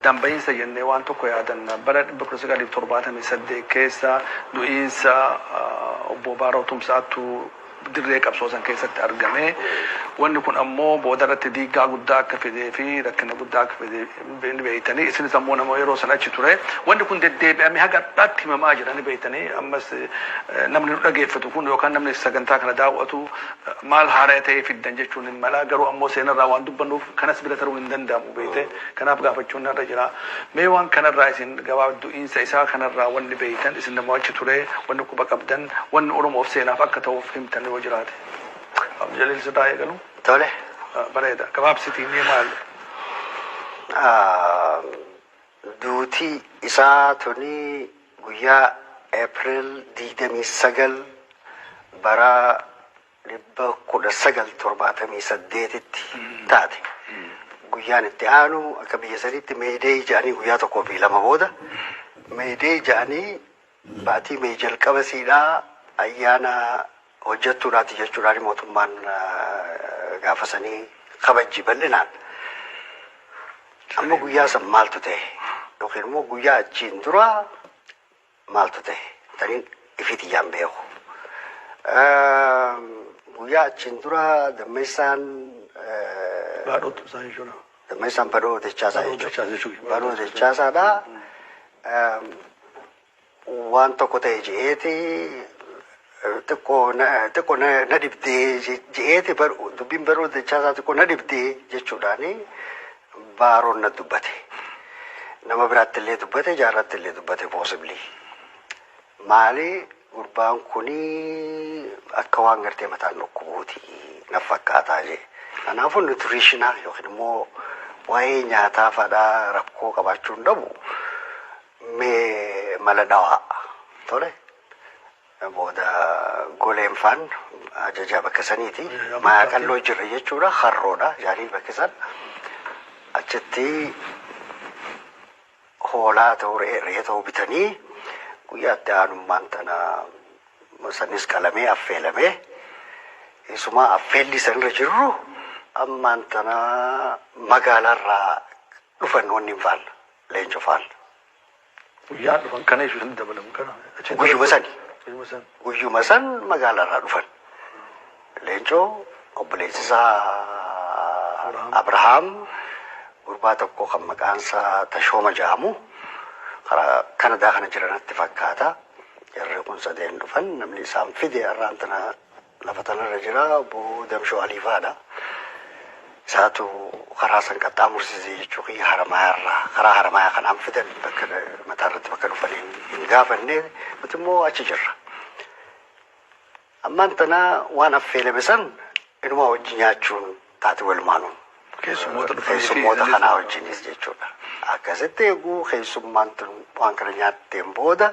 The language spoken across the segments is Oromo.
Addaan bahiinsa jennee waan tokko yaadanna. Bara 1978 keessa du'iinsa Obbo Baaroo Tumsaatu dirree qabsoo san keessatti argame. Wanni kun ammoo booda irratti diiggaa guddaa akka fidee fi rakkina guddaa akka fide ni beektanii. Isinis ammoo nama yeroo san achi ture. Wanni kun deddeebi'amee haga har'aatti himamaa jira ni beektanii. Ammas namni nu dhageeffatu kun yookaan namni sagantaa kana daaw'atu maal haaraya ta'ee fiddan jechuun hin mala. Garuu ammoo seenarraa waan dubbannuuf kanas bira taruun hin danda'amu beekte. Kanaaf gaafachuun narra jira. Mee waan kanarraa isin gabaabaa du'iinsa isaa kanarraa wanni beeytan isin namoo achi ture wanni quba qabdan wanni Oromoof seenaaf akka ta'uuf himtan yoo jiraate. Abdu Jaliil sirraa eegalu. Tole. Bareeda. Gabaabsitii mee maal. Duuti isaa tuni guyyaa April 29 bara dhibba kudha sagal torbaatamii saddeetitti taate. Guyyaan itti aanu akka biyya sanitti meeyideeyi ja'anii guyyaa tokkoo fi lama booda meeyideeyi ja'anii baatii meeyi jalqaba siidhaa ayyaana hojjettuudhaati jechuudhaan mootummaan ah, gaafa sanii kabajji bal'inaan. Amma guyyaa san maaltu ta'e? Yookiin immoo guyyaa achiin dura maaltu tahe tanin ifii tiyyaan beeku. Guyyaa achiin dura dammeessaan Baadhootu isaa jechuudha. dammeessaan badhoo dachaasaa Badhoo jechuudha. Dachaasaa jechuudha. Badhoo dachaasaadha. Waan tokko ta'e je'eeti xiqqo na xiqqo na na dhibdee je- je'eeti bar- dubbiin baruu dachaa isaa xiqqo na dhibdee jechuudhaani baaroon na dubbate. Nama biraatti illee dubbate jaarratti illee dubbate possibly. Maali gurbaan kuni akka waan gartee mataan dhukkubuuti na fakkaataa jee. Kanaafuu nutritionaa yookiin immoo waa'ee nyaataa fadhaa rakkoo qabaachuu hin dhabu mee mala dhawaa tole. booda goleen faan ajajaa bakka saniiti mayaa qalloo jirre jechuudha harroodha jaanii bakki san achitti hoolaa ta'u re'ee ta'u bitanii guyyaatti aanummaan tana sanis qalamee affeelamee isumaa affeelli sanirra jirru ammaan tana magaalaarraa dhufan wanni hin faalla leenco faalla. Guyyaan dhufan kana jechuudha hin dabalamu kana. Achitti Guyyuma sani. Guyyuma san. Guyyuma san magaalaarraa dhufan. Leencoo obboleessi isaa Abrahaam gurbaa tokko kan maqaan isaa Tashooma jedhamu karaa Kanadaa kana jiranatti fakkaata. Jarri kun sadeen dhufan namni isaan fide har'aan tana Lafa tanarra jira obbo Damshoo Aliifaadha. Isaatu karaa san qaxxaamursise jechuu kiyya Haramaayaarraa. Karaa Haramaayaa kanaan fidan bakka mataarratti bakka dhufan hin, hin gaafanne. Nuti immoo achi jirra. Ammaan tana waan affeelame san inumaa wajji nyaachuun taate walumaanuu. Keessummoota dhufanii fi Keessummoota illee- kanaa wajjinis jechuudha. Akkasitti eeguu keessummaan tun waan kana nyaatteen booda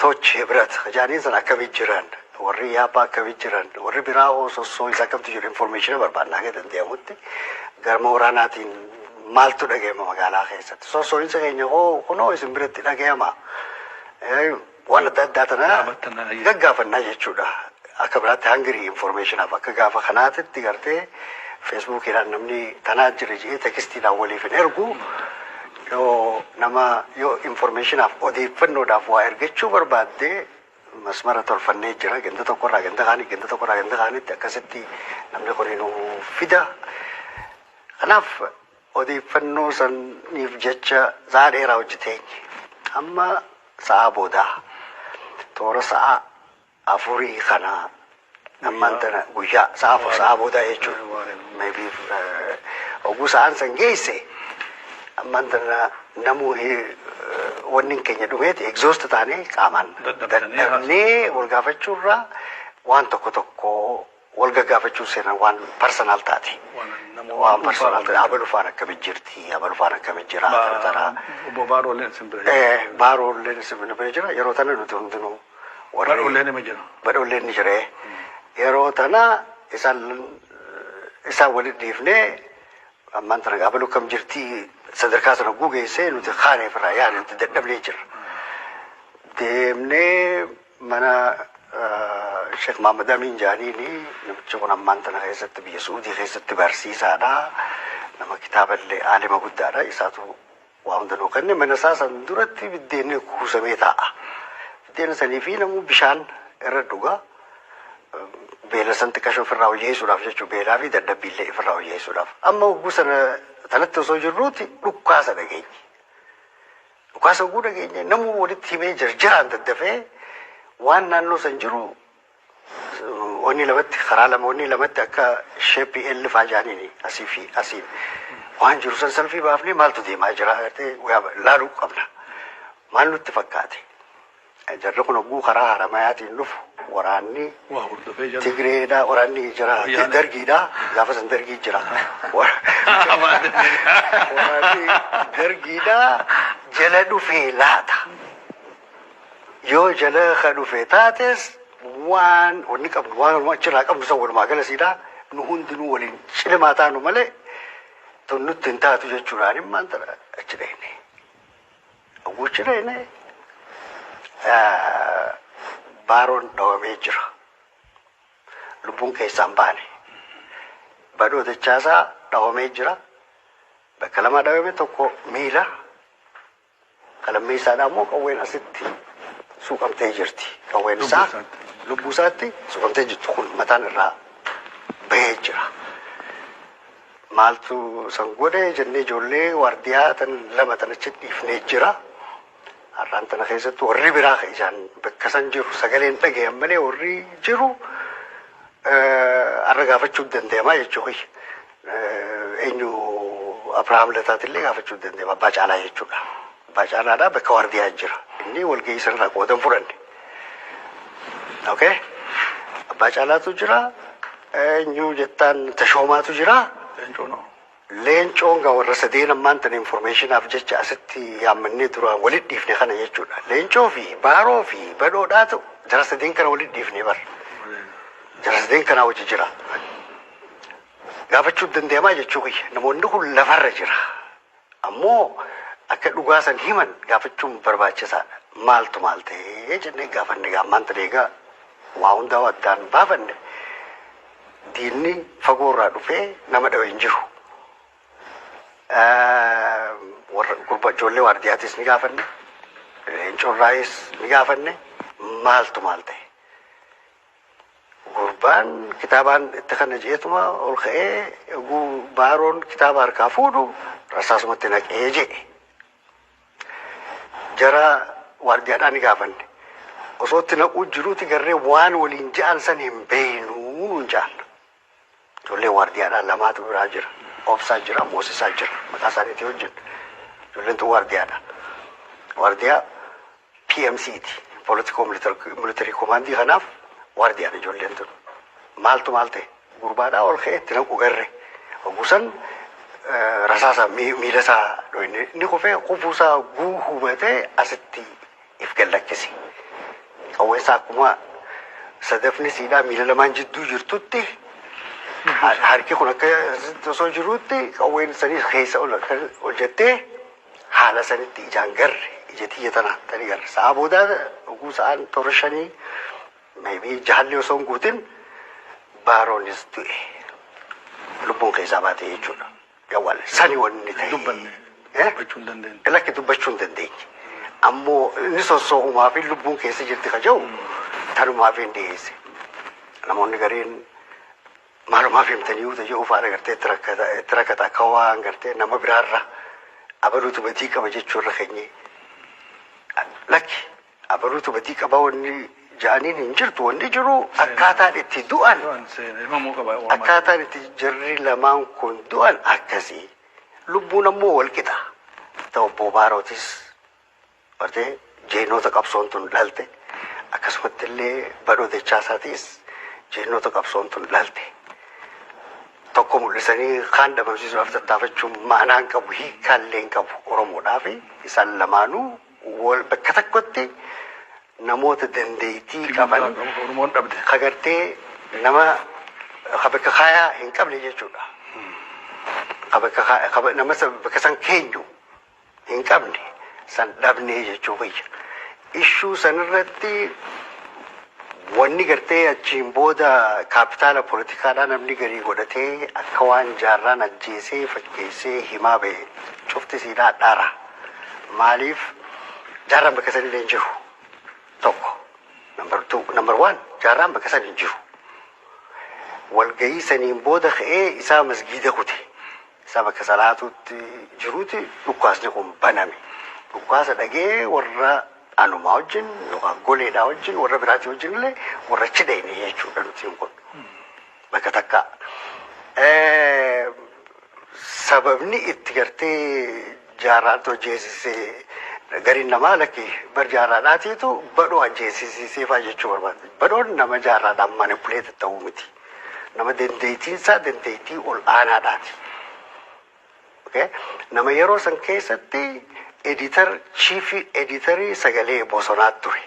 Toch, Hibrat, ka jaaniin san akkami jiran? Warri Ihaappaa akkami jiran? Warri biraa hoo sossoo isa akkamtu jiru? Informeeshina barbaanna haga danda'amutti. Garma waraanaatiin maaltu dhaga'ama magaalaa keessatti? Sossoo'insa keenya hoo kunoo isin biratti dhaga'ama? Waan adda addaa tana gaggaafannaa jechuudha. akka biraatti hungry informationaaf akka gaafa kanaatitti gartee feesbuukiidhaan namni tanaa jira jedhee tekistiidhaan waliif hin ergu yoo nama yoo informationaaf odeeffannoodhaaf waa ergachuu barbaadde masmara tolfannee jira ganda tokkorraa ganda kaanii ganda tokkorraa ganda kaanitti akkasitti namni kun nu fida kanaaf odeeffannoo saniif jecha sa'a dheeraa hojjeteenye amma sa'a boodaa toora sa'a afurii kana ammaan tana guyyaa sa'a afur sa'a booda jechuudha. Maybe oguu sa'aan san geesse ammaan tana namuu wanni keenya dhumeeti exhaust taanee qaamaan dadhabnee wal gaafachuurraa waan tokko tokko wal gaggaafachuun seenaan waan personal taate. Waan personal taate. Abalu faan akkami jirti, abalu faan akkami jira, akkana tara. Obbo Baarooleen isin bira jira. Eh, Baarooleen isin bira jira. Yeroo tana nuti hundinuu warri- Baarooleen ima jira. badhoolleen ni jire. Yeroo tana isaan isaan waliin dhiifnee ammaan tana abaluu kam jirti sadarkaa sana gugeessee nuti kaanee firraa yaadatti dadhabnee jirra. Deemnee Mana Sheek Mahammad Amiin Jaaniini. Namichi kun ammaan tana keessatti biyya Su'uudii keessatti barsiisaadha. Nama kitaaba illee aalima guddaadha. Isaatu waa hunda nuu kenne. Mana isaa san duratti biddeenni kuusamee taa'a. Biddeena sanii fi namuu bishaan irra dhuga. Beela san xiqqasho ofirraa hojeessuudhaaf jechuu beelaa fi dadhabbii illee ofirraa hojeessuudhaaf. Amma hogguu sana sanatti osoo jirruuti dhukkaasa dhageenye. Dhukaasa oguu dhageenye namuu walitti himee jarjaraan daddafee waan naannoo san jiru onni lamatti karaa lama onni lamatti akka sheeppii L faa jaaniin asii fi asiin waan jiru san salfii baafnee maaltu deemaa jira agartee laaluu qabna. Maal nutti fakkaate? Jarri kun hogguu karaa Haramayaatiin dhufu waraanni Tigreedha, waraanni jira, Dargiidha. Gaafa san Dargii jira. Waraanni Dargiidha jala dhufee laata. Yoo jala ka dhufe taates waan wanni qabnu waan walumaa achirraa qabnu san walumaa galasiidha. Nu hundinuu waliin cilimaa taanu malee tun nutti hin taatu jechuudhaan immaan achi dhayne. Guchireen baaroon dhawamee jira. Lubbuun keessaan baane. Badhoo dachaasaa dhawamee jira. Bakka lama dhawame tokko miila. Kalammeessaadhaa immoo qawween asitti suuqamtee jirti. Qawween isaa lubbuu isaatti suuqamtee jirti kun mataan irraa bahee jira. Maaltu san godhe jennee ijoollee waardiyaa tan lama tan achi dhiifnee jira. Har'aan tana keessatti warri biraa ka ijaan bakka san jiru sagaleen dhagayan malee warri jiru har'a gaafachuu danda'amaa jechuu kiyya. Eenyu Abrahaam Lataatillee gaafachuu danda'ama abbaa caalaa jechuudha. Bacaanaadha bakka waardiyaa jira. Inni walgahii sanarraa qooda hin fudhanne. Okay? Abbaa Caalaatu jira. Eenyu jettaan Tashoomaatu jira. Leencoo noo. Leencoon gaa warra sadeen ammaan tan informeeshinaaf jecha asitti yaammannee duraan walit dhiifne kana jechuudha. Leencoo fi Baaroo fi Badhoodhaatu jara sadeen kana walit dhiifne bar. Jara sadeen kanaa hojii jira. Gaafachuu dandeemaa jechuu kiyya. Namoonni kun lafarra jira. Ammoo akka dhugaa san himan gaafachuun barbaachisaadha. Maaltu maal ta'ee jennee gaafanne gaammaan tan eegaa waa hundaa addaan baafanne diinni fagoo irraa dhufee nama dhawe hin jiru. Warra gurba ijoollee waardiyaatis ni gaafanne, leencorraayis ni gaafanne maaltu maal ta'e. Gurbaan kitaabaan itti kana jeetuma ol ka'ee oguu baaroon kitaaba harkaa fuudhu rasaasumatti naqee jedhe. Jara waardiyaadhaa ni gaafanne. Osoo itti naquu jiruuti garree waan waliin ja'an san hin beeynu nuun ja'an. Ijoollee waardiyaadhaa lamaatu biraa jira. Obsaa jira, Moosisaa jira. Maqaa isaaniitii hojjedha. Ijoolleen tun waardiyaadha. Waardiyaa PMC ti. Politikoo militarii komaandii kanaaf waardiyaadha ijoolleen tun. Maaltu maal ta'e? Gurbaadhaa ol ka'ee itti naqu erre. Oggusan rasaasa miila isaa dhoyne. Inni kufee kufuusaa guu hubatee asitti if gad lakkisi. Qawwee isaa akkuma sadafni siidhaa miila lamaan jidduu jirtutti ha- harki kun akka osoo jirutti qawween sanii keessa ol akka ol jettee haala sanitti ijaan garre ija tiyya tana tani garre. Sa'a boodaa dhuguu sa'aan toora shanii maybii jaalli osoo hin guutin baaroonis du'e. Lubbuun keessaa baate jechuudha. Dawal sani wanni ta'e. Dubbanne. Eh? Dubbachuu hin dandeenye. Lakki dubbachuu hin dandeenye. Ammoo inni sossoohumaa fi lubbuun keessa jirti ka jedhu tanumaa fi hin dhiyeesse. Namoonni gariin maalumaaf himtanii uta jedhu fa'aa agartee itti rakkata itti rakkata akka waan gartee nama biraarra abaluutu badii qaba jechuurra keenyee. Lakki Abaluutu badii qaba wanni ja'aniin hin jirtu wanni jiru akkaataan itti du'an akkaataan itti jarri lamaan kun du'an akkasii lubbuun ammoo wal qixa ta obbo Baarootis bartee jeenoota qabsoon tun dhalte akkasumatti illee badhoo dechaasaatiis jeenoota qabsoon tun dhalte tokko mul'isanii kaan dhabamsiisuudhaaf tattaafachuun maanaan qabu hiikkaallee hin qabu Oromoodhaaf isaan lamaanuu wal bakka tokkotti namoota dandeettii qaban Oromoon dhabde. ka gartee nama ka bakka kaayaa hin qabne jechuudha. Ka bakka kaa- ka ba- nama san- bakka san keenyu hin qabne san dhabnee jechuu kiyya. Ishuu sanirratti Wanni gartee achiin booda kaapitaala politikaadhaa namni garii godhatee akka waan Jaarraan ajjeesee fakkeessee himaa bahe cufti isiidhaa hadhaara. Maaliif Jaarraan bakka san illee hin jiru. Tokko. Number two, number one, Jaarraan bakka san hin jiru. Walgahii saniin booda ka'ee isaa masgiida kute. isaa bakka salaatuutti jiruuti dhukkaasni kun baname. Dhukkaasa dhagee warra anumaa wajjin yookaan goleedhaa wajjin warra biraatii wajjin illee warra achi dhayne jechuudha nutiin kun. Bakka takka. Sababni itti gartee jaarraatti hojjeessisee gariin namaa lakki bar jaarraadhaatiitu badhoo ajjeessisiiseefaa jechuu barbaada. Badhoon nama jaarraadhaan manipuleeti ta'uu miti. Nama dandeettiinsaa dandeettii ol aanaadhaati. Okay? Nama yeroo san keessatti editar chiifii editarii sagalee bosonaa ture.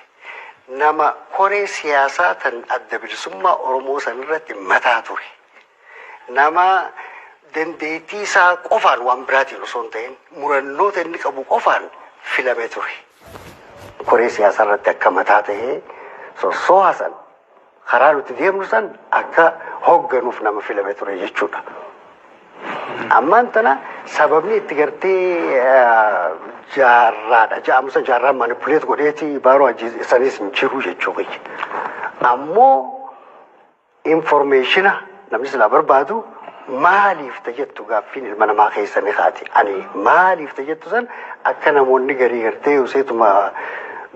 Nama koree siyaasaa tan adda bilisummaa Oromoo san irratti mataa ture. Nama dandeettii isaa qofaan waan biraatiin osoo hin ta'in murannoota inni qabu qofaan filame ture. Koree siyaasaa irratti akka mataa ta'ee sossooha san Karaa nuti deemnu san akka hoogganuuf nama filame ture jechuudha. Ammaan tana sababni itti gartee jaarraadha ja'amusa jaarraa manipuleet godheeti baaroo ajjeesanis hin jiru jechuu kiyya. Ammoo informeeshina Namni silaa barbaadu maaliif ta jettu gaaffiin ilma namaa keessa ni kaati. Ani maaliif ta jettu san akka namoonni garii gartee useetuma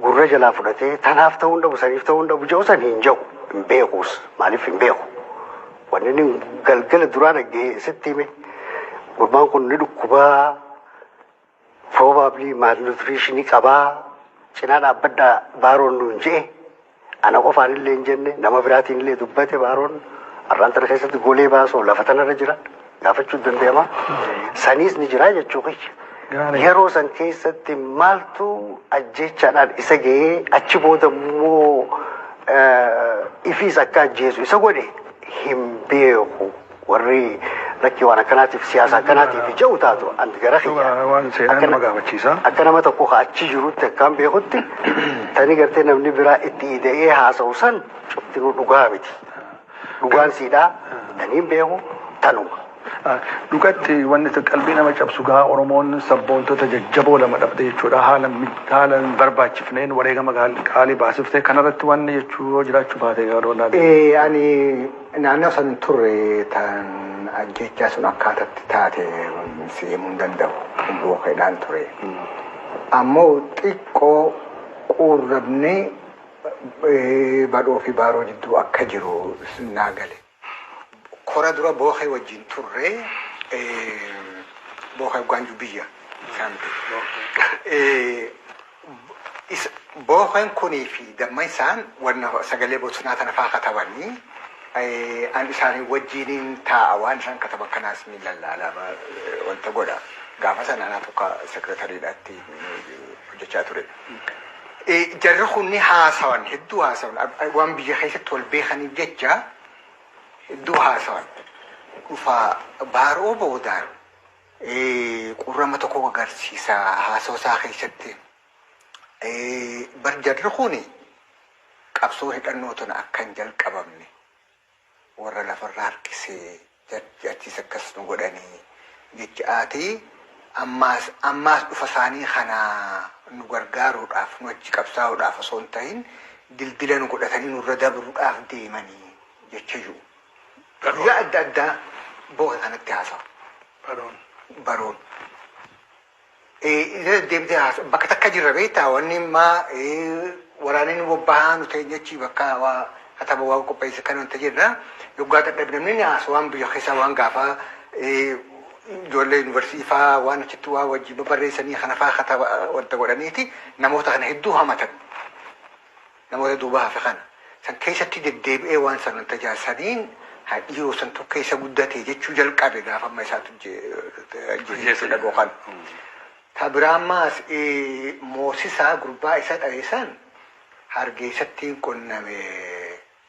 gurra jalaa fudhatee tanaaf ta'uu hin dhabu saniif ta'uu hin dhabu jedhu san hin jedhu hin beekuus maaliif hin beeku. Wanni inni galgala duraa dhaggee sitti hime gurbaan kun ni dhukkubaa probably malnutrition qabaa cinaa dhaabbadhaa baaroon nuun je'e ana qofaan illee hin jenne nama biraatiin illee dubbate baaroon arraan tana keessatti golee baasoo lafa tanarra jira gaafachuun danda'ama saniis ni jira jechuu kiyya. Gaarii. Yeroo san keessatti maaltu ajjeechaadhaan isa ga'ee achi booda immoo eh, ifiis akka ajjeesu isa godhe hin beeku. warri lakkii waan akkanaatiif siyaasa akkanaatiif ja'u taatu anti gara kiyya Waan seenaan Akkana- nama gaafachiisa. akka nama tokko ka achi jirutti akkaan beekutti tani gartee namni biraa itti ida'ee haasa'u san cuftinuu dhugaa miti dhugaan siidhaa taniin beeku tanuma Ah, Dhugatti wanni itti qalbii nama cabsu gaa Oromoon sabboontota jajjaboo lama dhabde jechuudha. Haala mi- haala hin barbaachifneen wareegama gaal- qaalii baasifte kanarratti wanni jechuu yoo jiraachuu baate garuu naa Ee, ani Naannoo san turre tan ajjeechaa sun akkaatatti taate si himuu hin danda'u. Lubbuu keedhaan ture. Ammoo xiqqoo quurrabni badhoo fi baaroo jidduu akka jiru naa gale. Kora dura bookee wajjin turre bookee hoggaan jiru biyya isaanitti. Booken kunii fi damma isaan wanna sagalee bosonaa tana faa katabani, an isaanii wajjiiniin taa'a, waan isaan kataban kanaas niin lallaala, wanta godha. Gaafa sana anaa tokko sekreetariidha itti hojjechaa ture. Jarri kun ni haasawan, hedduu haasawan, waan biyya keessatti wal beekaniif jecha hedduu haasawan. Dhufaa baaroo boodaan Qurrama tokko agarsiisa haasawa isaa keessatti. Bar jarri kun qabsoo hidhannootiin akka hin jalqabamne warra lafarra harkisee jarri achiis akkas nu godhanii jecha ati ammaas ammaas dhufa isaanii kana nu gargaaruudhaaf nu achi qabsaa'uudhaaf osoo hin ta'in dildila nu godhatanii nurra dabruudhaaf deemanii jecha jiru. guyyaa adda addaa booka kanatti haasawa. Baroon. Baroon. Isa deemtee haasawa. Bakka takka jirra beektaa wanni maa waraanni bobbahaa nu ta'e jechi bakka waa kataba waa qopheesse kan wanta jirra. Yoggaa dadhabnamni ni haasawaan biyya keessaa waan gaafaa ijoollee yuunivarsiitii faa waan achitti waa wajjin barreessanii kana faa kataba wanta godhaniiti namoota kana hedduu hamatan. Namoota duuba hafe kana san keessatti deddeebi'ee waan san wanta jaa saniin ha dhiiroo santu keessa guddate jechuu jalqabe gaafa amma isaatu je- ajjeese Ajjeese. jechuu dhagoo kana. Ta biraa ammaas ee, moosisaa gurbaa isa dhaye san hargeessattiin qunname.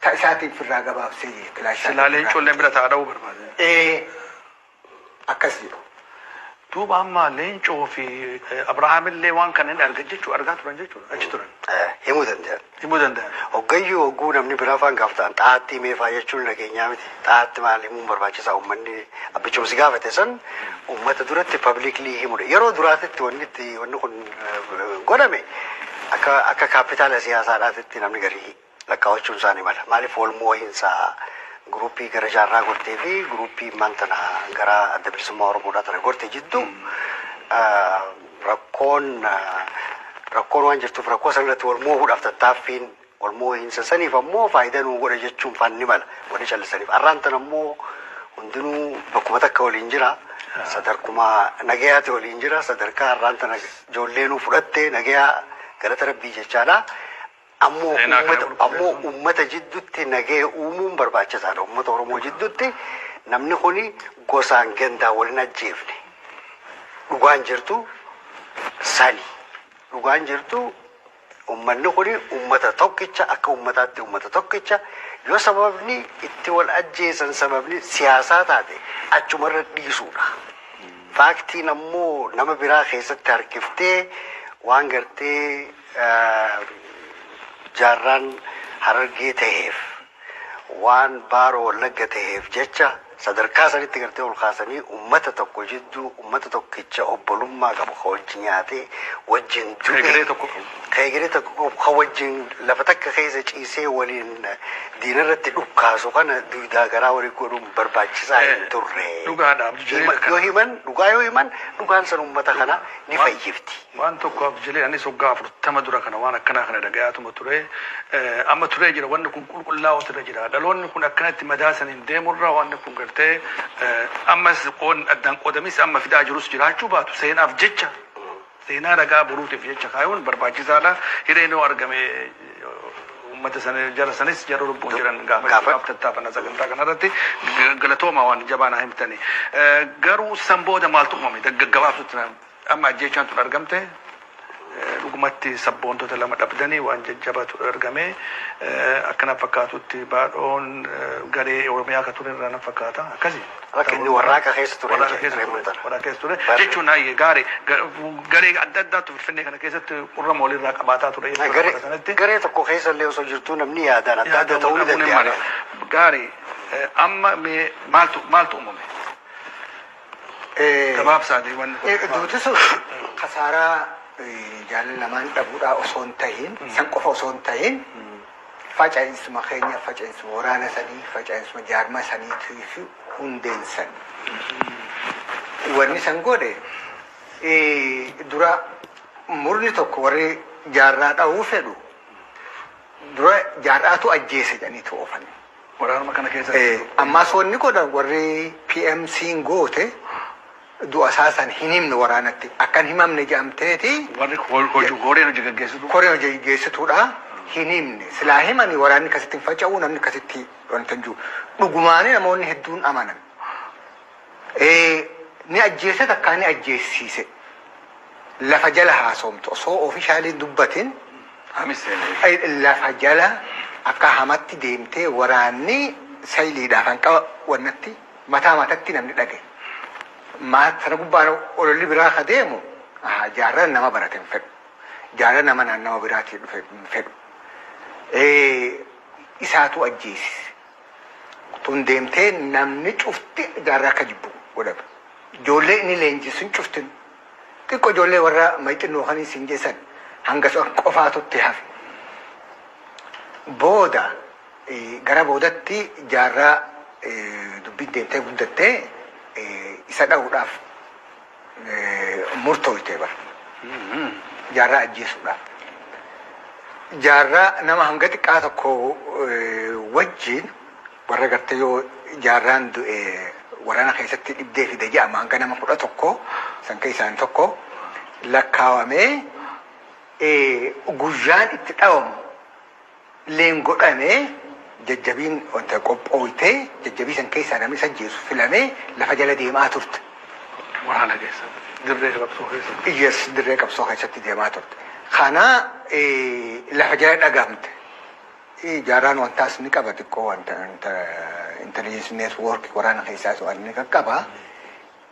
Ta isaatiin firraa gabaabsee jee kilaashaa Silaa leencoon leen bira ta'a dha'uu barbaade. Ee akkas jedhu. Duuba amma leencoo fi eh, Abrahaam illee waan kana hin argan jechuu argaa turan jechuudha achi turan. Eh, Himuu danda'an. Himuu danda'an. Hoggayyuu hogguu namni biraa faan gaafatan xaa'aatti meefaa jechuun nageenyaa miti. Xaa'aatti maal himuun barbaachisaa uummanni abbichumsi gaafate san uummata duratti pabliiklii himudha. Yeroo duraatitti wanni itti wanni kun eh, godhame akka akka kaapitaala siyaasaadhaatitti namni garii lakkaawachuu isaa ni mala. Maaliif wal moo'insa guruuppii gara jaarraa gortee fi guruuppii immaan tana gara adda bilisummaa Oromoodhaa tana gorte jiddu rakkoon rakkoon waan jirtuuf rakkoo san irratti wal moo'uudhaaf tattaaffiin wal moo'insa saniif ammoo faayidaa nuu godha jechuun faan ni mala wanni callisaniif. Arraan tana ammoo hundinuu bakkuma takka waliin jira. Sadarkuma nagayaati waliin jira. Sadarkaa arraan tana ijoollee nuu fudhatte nagayaa galata rabbii jechaadha. Ammoo Seenaa kana uummata, ammoo qulqulleessuun. uummata jidduutti nagaya uumuun barbaachisaadha. Uummata Oromoo jidduutti namni kuni gosaan gandaa wal hin ajjeefne. Dhugaan jirtu sani. Dhugaan jirtu uummanni kuni uummata tokkicha akka uummataatti uummata tokkicha yoo sababni itti wal ajjeesan sababni siyaasaa taate achumarra dhiisuudha. Faaktiin ammoo nama biraa keessatti harkiftee waan gartee jaarraan Harargee taheef, waan Baaroo Wallagga taheef jecha sadarkaa sanitti gartee ol kaasanii ummata tokko jidduu ummata tokkicha obbolummaa qabu ka wajji nyaatee wajjin du'e Egeree tokko qabu. ka egeree tokko qabu ka wajjin lafa takka keessa ciisee waliin diinarratti dhukkaasu kana duydaa garaa walii godhuun barbaachisaa hin turre. Dhugaadha, Abdu Jaliil Hima- akkana. Yoo himan dhugaa yoo himan dhugaan san ummata kana ni fayyifti. Waan tokko abjile anis waggaa afurtama dura kana waan akkanaa kana dhagayaatuma ture amma turee jira wanni kun qulqullaa'uutu irra jira dhaloonni kun akkanatti madaa saniin deemurra wanni kun gartee ammas qoon addaan qoodamis amma fidaa jirus jiraachuu baatu seenaaf jecha seenaa ragaa boruutiif jecha kaayuun barbaachisaadha hireen yoo argame ummata sana jara sanis jara lubbuun jiran gaafachuudhaaf tattaafanna sagantaa kanarratti galatoomaa waan jabaa naa himtani garuu san booda maaltu uumame gaggabaabutti Amma ajjeechaan tun argamte dhugumatti sabboontota lama dhabdanii waan jajjabatu argame. Akka na fakkaatutti baadhoon garee Oromiyaa ka ture irraa na fakkaata. Akkasi? Bakka inni warraaqa keessa ture Warraaqa keessa ture. Reemuun tana. Warraaqa keessa ture. Barri- Jechuun haayye gaari garee adda addaatu Finfinnee kana keessatti qurrama walirraa qabaataa ture jechuudha Garee- bara sanatti. Garee tokko keessa illee osoo jirtuu namni yaadaan adda adda ta'uu ni danda'a. Gaarii amma mee maaltu maaltu uumame? Gabaabsaati wanni kun. Duuti sun kasaaraa jaalala lamaan dhabuudhaa osoo hin tahin san qofa osoo hin tahin faca'insuma keenya faca'insuma waraana sanii faca'insuma jaarmaa saniitii fi hundeen san. Wanni san godhe dura murni tokko warri jaarraa dhahuu fedhu dura jaarraatu ajjeese jedhaniitu oofan. Waraanuma kana keessa Ee jirtu. ammaas wanni godhan warri PMCn goote du'a isaa san hin himne waraanatti akka hin himamne jedhamteeti Warri ho- hojii koreen hojii gaggeessitu. koreen hojii gaggeessituudha hin himne silaa himanii waraanni akkasitti hin faca'u namni akkasitti wanta hin jiru dhugumaanii namoonni hedduun amanan Ee ni ajjeese takkaa ni ajjeessiise lafa jala haasomtu osoo officially dubbatin lafa jala akkaa hamatti deemtee waraanni sayliidhaa kan qaba wannatti mataa matatti namni dhage maat sana gubbaan ololli biraa ka deemu ahaa jaarran nama barate hin fedhu jaarran nama naannawa biraatii dhufe hin fedhu ee isaatuu ajjeesise. tun deemtee namni cufti jaarraa akka jibbu godhame. Ijoollee inni leenjisun cuftin xiqqo ijoollee warra mayxinnoo kan isin jeessan hangasu akka qofaatutti hafe. Booda gara boodatti jaarraa dubbiin deemtee guddattee isa dha'uudhaaf murtooyte bar jaarraa ajjeesuudhaaf. Jaarraa nama hanga xiqqaa tokko wajjiin warra gartee yoo jaarraan du'e waraana keessatti dhibdee fida jedhama hanga nama kudha tokko san keessaan tokko lakkaawamee guyyaan itti dhawamu leen godhame jajjabiin wanta qophooyte jajjabii san keessaa namni isa ajjeesu filame lafa jala deemaa turte. Waraana keessa dirree qabsoo keessa. Yes dirree qabsoo keessatti deemaa turte. Kana lafa jala dhagamte. Jaarraan wantaas ni qaba xiqqoo wanta intelligence network waraana keessaa to'an ni qaqqaba.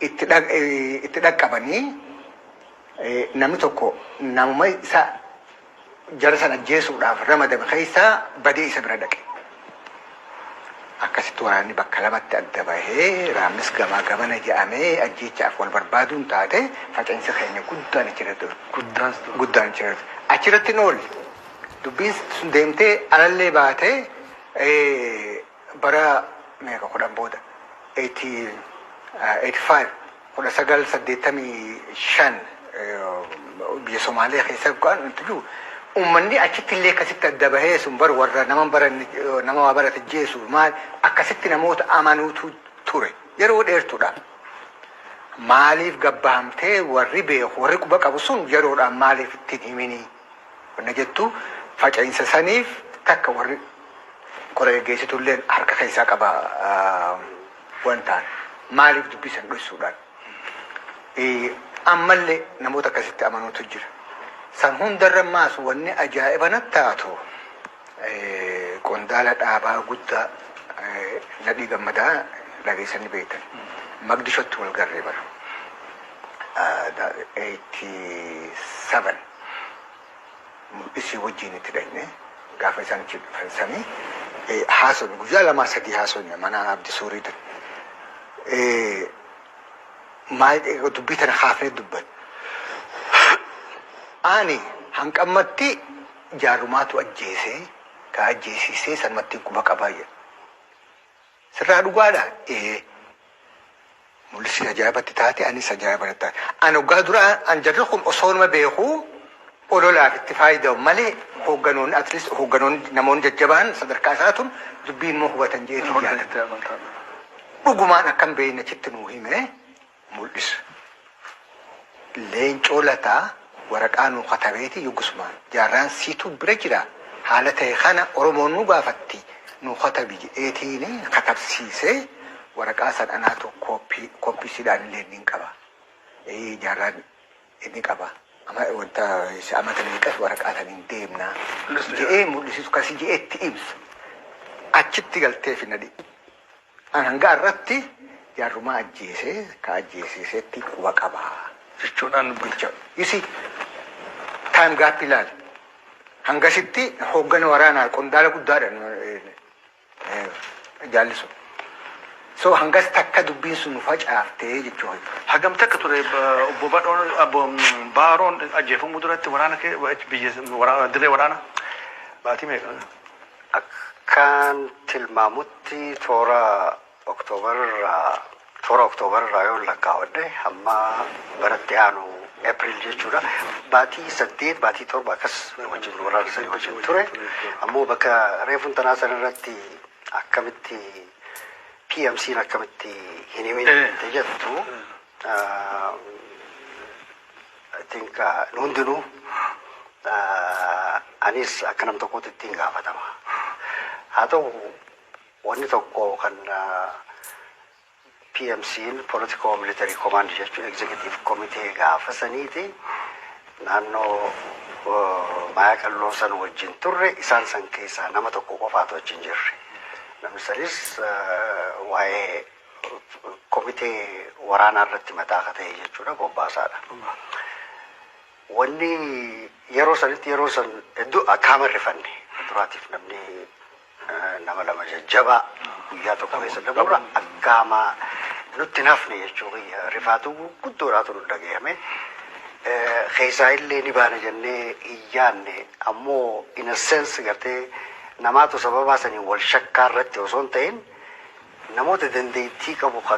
Itti dhaqqabanii namni tokko namuma isa jara san ajjeesuudhaaf ramadame keessaa badee isa bira dhaqe. Akkasitti waraanni bakka lamatti adda bahee raammis gamaa gamana jedhamee ajjeechaaf wal barbaaduun taate faca'insa keenya guddaan achirratti Guddaas ture. guddaan achirratti achirratti hin oolle. Dubbiin sun deemtee alallee baatee eh, bara meeqa kudhan booda 18, eh, 85 19 85 biyya Somaalee keessa bu'aan nutti jiru uummanni achitti illee akkasitti adda bahee sun bar warra nama baranne nama waa barate jeesu maal akkasitti namoota amanuutu ture yeroo dheertuudha. Maaliif gabbahamtee warri beeku warri quba qabu sun yeroodhaan maaliif ittiin himinii wanna jettu faca'iinsa saniif takka warri qora geggeessitu illee harka keessaa qaba. wan taan maaliif dubbii san dhossuudhaan ammallee namoota akkasitti amanuutu jira. San hundarra maas wanni ajaa'iba natti taatu qondaala dhaabaa guddaa Nadhii Gammadaa dhageessan ni beektan. Maqdishootti wal garree bara. 87 isii wajjiin itti dhayne gaafa isaan achi dhufan sani haasofne guyyaa lamaa sadii haasofne mana abdi suurii ture. Maayii dubbii tana kaafnee dubban. Ani hanqammatti jaarrumaatu ajjeesee ka ajjeesiisee sanumatti quba qabaa jedhe. Sirraa dhugaadhaa? Ee. Mul'isni ajaa'iba itti taate anis ajaa'iba natti taate. Ani hoggaa duraa an jarri kun osoonuma beekuu ololaaf itti faayida'u malee hoogganoonni at least hoogganoonni namoonni jajjabaan sadarkaa isaa tun dubbiin immoo hubatan jeetii yaada. Dhugumaan akka hin beekne achitti nuu hime. mul'isa. Leencoo Lataa waraqaa nuu katabeeti yogusuma jaarraan siituu bira jira haala tahe kana Oromoon nu gaafatti nuu katabi jedheetiin katabsiise waraqaa san anaatu kooppii kooppii silaa anillee niin qaba ee jaarraan ni qaba ama wanta isa amata meeqas waraqaa san hin deemna jedhee mul'isitu kasi jedhee itti ibsa achitti galtee fi nadhi An hanga har'atti jaarrumaa ajjeese ka ajjeesiisetti quba qaba jechuudhaan dubbicha you see time gap ilaali hangasitti hooggana waraanaa qondaala guddaadha jaalli sun so hangas takka dubbiin sun nu facaaftee jechuu hoy. Hagam takka ture obbo Badhoon obbo Baaroon ajjeefamuu duratti waraana kee biyya waraana dirree waraana baatii meeqa? Akkan tilmaamutti toora October irraa toora October irraa yoon lakkaawwadhe hamma bara itti aanu April jechuudha. Baatii saddeet baatii torba akkas wajjin waraana sanii wajjin ture. Ammoo bakka reefun tanaa san irratti akkamitti PMC'n akkamitti hin himin Eh. jette jettu ah, I think nu hundinuu anis akka nam tokkootti ittiin gaafatama. Haa ta'u wanni tokko kan PMC'n Political Military Command jechuun Executive Committee gaafa saniiti naannoo Maayaa Qalloo san wajjin turre isaan san keessaa nama tokko qofaatu achi hin jirre. Namni sanis waa'ee komitee waraanaa irratti mataa akka ta'e jechuudha bobbaasaadha. Wanni yeroo sanitti yeroo san hedduu akkaama rifanne duraatiif namni nama lama jajjabaa guyyaa tokko keessa dabarra akkaama nutti nafne jechuu kiyya rifaatu guddoodhaatu nu dhagahame. Keessaa illee ni baana jennee hin yaanne ammoo in a sense gartee namaatu sababaa saniin wal shakkaa irratti osoo hin ta'in Namoota dandeettii qabu ka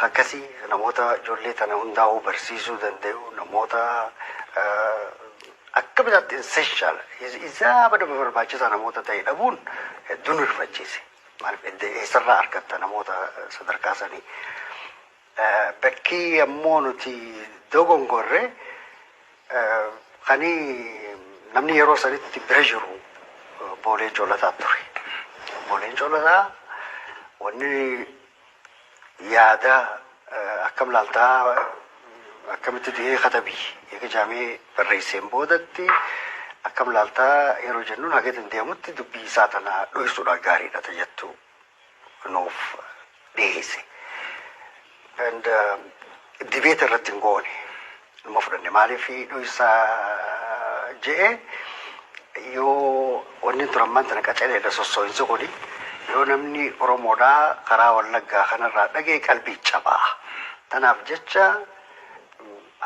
akkasii namoota ijoollee tana hundaa'uu barsiisuu dandayu namoota akka bitaatti essential isaa bada barbaachisaa namoota ta'e dhabuun hedduu nu rifachiise. Maaliif eessarraa argatta namoota sadarkaa sanii. Bakkii ammoo nuti dogongorre kanii namni yeroo sanitti bira jiru obbo Leencoo Lataa ture. Obbo Leencoo Lataa wanni yaada akkam laaltaa akkamitti du'ee katabii eega jaamee barreesseen boodatti akkam laaltaa yeroo jennuun haga danda'amutti dubbii isaa tana dhoysuudhaan gaariidha ta jettu. nuuf dhiheesse. And debate irratti hin goone. Numa fudhanne maaliif dhoysaa je'e yoo wanni turan ammaan tana qacareedha sossoohinsi kuni yoo namni Oromoodhaa karaa wallaggaa kanarraa dhagee qalbii cabaa. Tanaaf jecha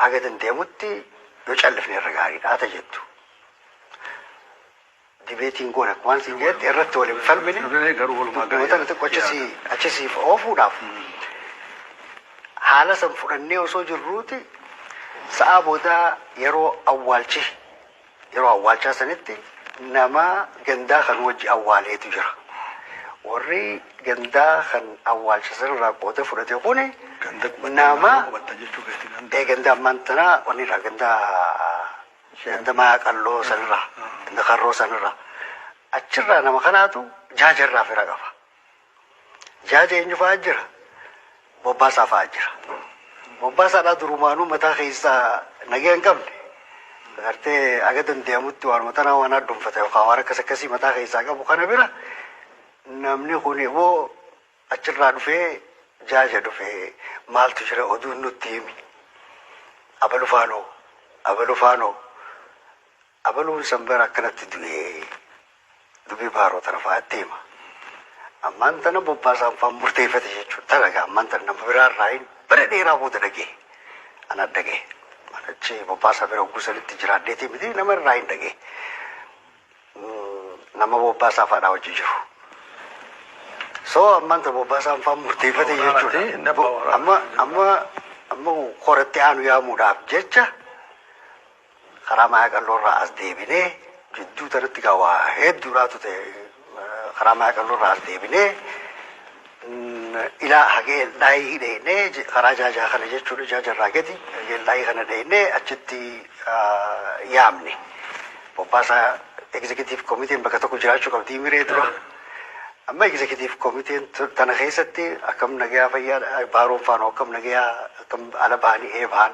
haga danda'amutti yoo callifne irra gaariidha ta jettu. Dibeetiin goona waan siin jeetti irratti wal hin falmine. Dubbilee garuu walumaa gala. Dubbilee xiqqoo achasii achasiif oofuudhaaf haala san fudhannee osoo jirruuti sa'aa boodaa yeroo awwaalchi yeroo awwaalchaa sanitti nama gandaa kan wajji awwaaleetu jira. Warri gandaa kan awwaalcha sanarraa qooda fudhate kuni Ganda nama qubatta jechuu keetii ganda. ee gandaa ammaan tanaa wanni irraa gandaa Ganda Mayaa Qalloo sanirraa, ganda Karroo sanirraa. Achirraa nama kanaatu jaaja irraa fira qaba. Jaaja eenyu fa'aa jira? Bobbaasaa fa'aa jira. Bobbaasaadhaa durumaanuu mataa keessaa nagee hin qabne. Agartee aga danda'amutti waanuma tanaa waan addunfata yookaan waan akkas akkasii mataa keessaa qabu kana bira namni kun immoo Achirraa dhufee jaaja dhufe maaltu jira oduun nutti himi abalu faanoo abalu faanoo abaluun san bara akkanatti du'e dubii baaroo tana fa'atti hima ammaan tana bobbaasaan faan murteeffate jechuun talaga ammaan tana nama biraa irraa hin bara dheeraa booda dhagee ana dhagee achi bobbaasaa bira hogguu sanitti jiraadheetii miti nama irraa hin dhagee nama bobbaasaa faadhaa wajji jiru. So ammaan ta bobbaasaan faan murteeffate jechuudha. Amma amma amma koratti aanu yaamuudhaaf jecha karaa maaya qalloorraa as deebinee jidduu tanatti gaa waa hedduudhaatu ta'e karaa maaya qalloorraa as deebinee ilaa hagee eldaayii dheeynee je- karaa jaajaa kana jechuudha jaaja irraa gadi hagee eldaayii kana dheeynee achitti ah, yaamne bobbaasaa egzekitiif komiteen bakka tokko jiraachuu qabdii miree dura amma egzekitiif komiteen tu- tana keessatti akkam nagayaa fayyaa baaroon faanoo akkam nagayaa akkam ala bahanii ee bahan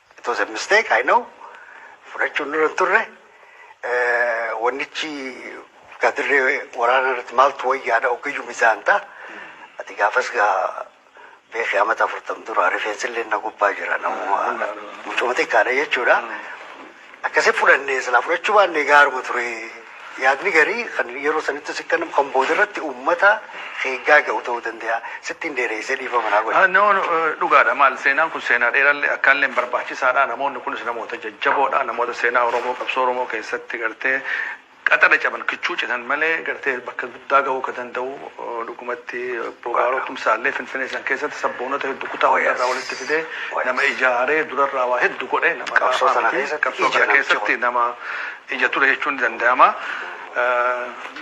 It was a mistake, I know. Fudhachuun nurra hin turre. Eh, Wannichi gadirree waraana irratti maaltu wayyaadha ogeeyyuu mizaan ta'a. Ati gaafas gaa beekee amata afurtam dura rifeensillee na gubbaa jira namuma mucuma xiqqaadha jechuudha. Akkasi fudhanne silaa fudhachuu baanne gaaruma ture. Yaadni garii kan yeroo sanittis hin kennamu kan boodarratti uummata eeggaa ga'u ta'uu danda'a. Sittiin dheereessee dhiifama naa godhi. No dhugaadha maal seenaan kun seenaa dheerallee akkaalleen barbaachisaadha namoonni kunis namoota jajjaboodha namoota seenaa Oromoo qabsoo Oromoo keessatti gartee Qaxala caban kichuu citan malee gartee bakka guddaa gahuu ka danda'u dhugumatti Obbo Baaroo Tumsaallee Finfinee san keessatti sabboonota heddu kutaa hundaa irraa walitti fidee nama ijaaree durarraa waa heddu godhe nama laafaa miti qabsoo kana keessatti nama ija ture jechuun ni danda'ama.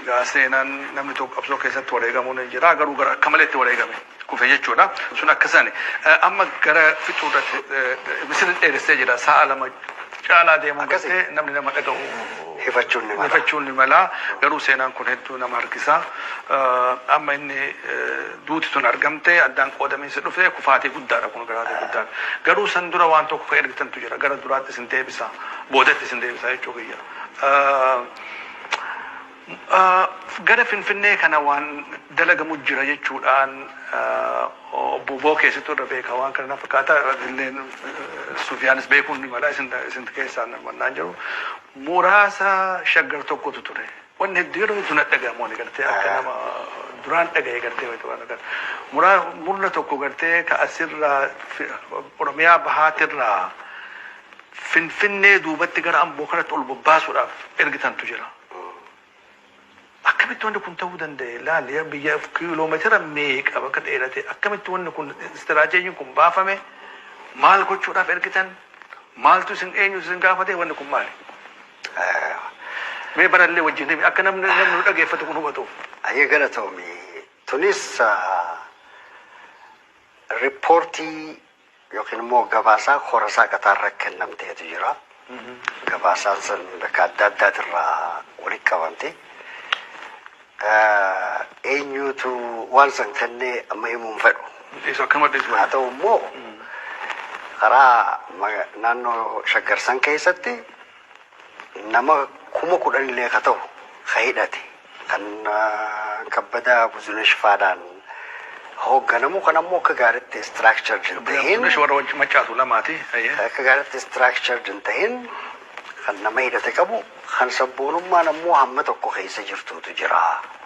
Egaa seenaan namni tokko qabsoo keessatti wareegamuun ni jira garuu gara akka malee itti wareegame. kufe jechuudha. Sun akkasani. Amma gara fixuurratti misirri dheeressee jira. Sa'a lama caalaa deemuu Akkasi? battee namni nama dhaga'u Hifachuun ni mala. hifachuun ni mala. Garuu seenaan kun hedduu nama harkisa. Eh, Amma inni eh, duuti tun argamte addaan qoodamiinsi dhufe kufaatii guddaadha kun kufaatii guddaan. Garuu san dura waan tokko kan ergitantu jira. Gara duraatti isin deebisa. Boodatti isin deebisa jechuu kiyya. Eh, gara Finfinnee kana waan dalagamu jira jechuudhaan Obbo Bookee situ irra beeka waan kana na fakkaata illeen Sufiyaanis beekuun ni mala isin isin keessaa naan jiru muraasa Shaggar tokkotu ture wanni hedduu yeroo hedduu na dhagahamu ani gartee akka nama duraan dhagahe gartee wayita waan agar muraa murna tokko gartee ka asirraa Oromiyaa bahaatirraa Finfinnee duubatti gara Amboo kanatti ol bobbaasuudhaaf ergitantu jira. Akkamitti wanni kun ta'uu danda'e? Laal yaa biyya kiiloomeetira meeqa bakka dheerate akkamitti wanni kun istiraateejiin kun baafame? Maal gochuudhaaf ergitan? Maaltu isin eenyutu isin gaafate? Wanni kun maali? Mee barallee wajjin himi akka namni namni nu dhageeffatu kun hubatuuf. Ayyee galatoomi. Tunis ah, rippoortii Yookiin immoo gabaasaa korasaa qataarra kennamteetu jira. Gabaasaan san bakka adda addaatirraa walitti qabamte. Eenyuutu waan san kennee amma himuu hin fedhu. Isa akkam adda isa Haa ta'u immoo karaa naannoo shaggar san keessatti Nama kuma kudhanillee ka tahu ka hidhate, kan Kabbadaa Buzunesh faadhaan hoogganamu, kan ammoo akka gaaritti structured hin Kabbadaa tahin, Buzunesh warra Wancii Maccaatu lamaati. Hayyee. kan akka gaaritti structured hin tahin, kan nama hidhate qabu, kan sabboonummaan ammoo hamma tokko keessa jirtuutu jira.